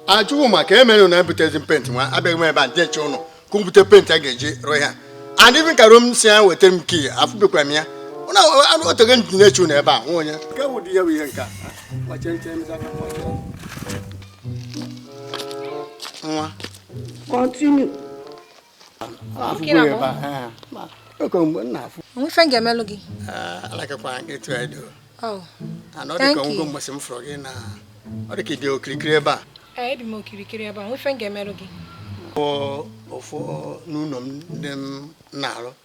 ajụwụ maka ihe mere na ebutezi penti nwa abịaghị m ebe a na-eche ụnụ ka m bute penti a ga-eji rụọ ihe a and even Caro m sị ya wetara m kii afụbekwa m ya o teego m ji na-eche ụnụ ebe a nwa onye nke bụ dị ya bụ ihe nke a kpọchie nche m zaka kpọchie. nwa Continue. nwe ife ga-emelụ gị ọ dị ka i bi okirikiri ebe a ebi m okirikiri ebe a nwe ife ga-emelụ gị ofu n'ụlọ ndị m na-arụ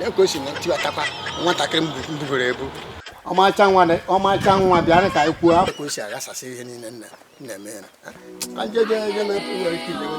ya ka o si na tiwatakwa nwatakịrị mbubere ebu ọmarịcha nwa dị- ọmarịcha nwa bịara ka anyị kwuo afọ ka o si aghasasị ihe niile nna nna eme ya ajeje ebe na-ekwu nwere ike ilewe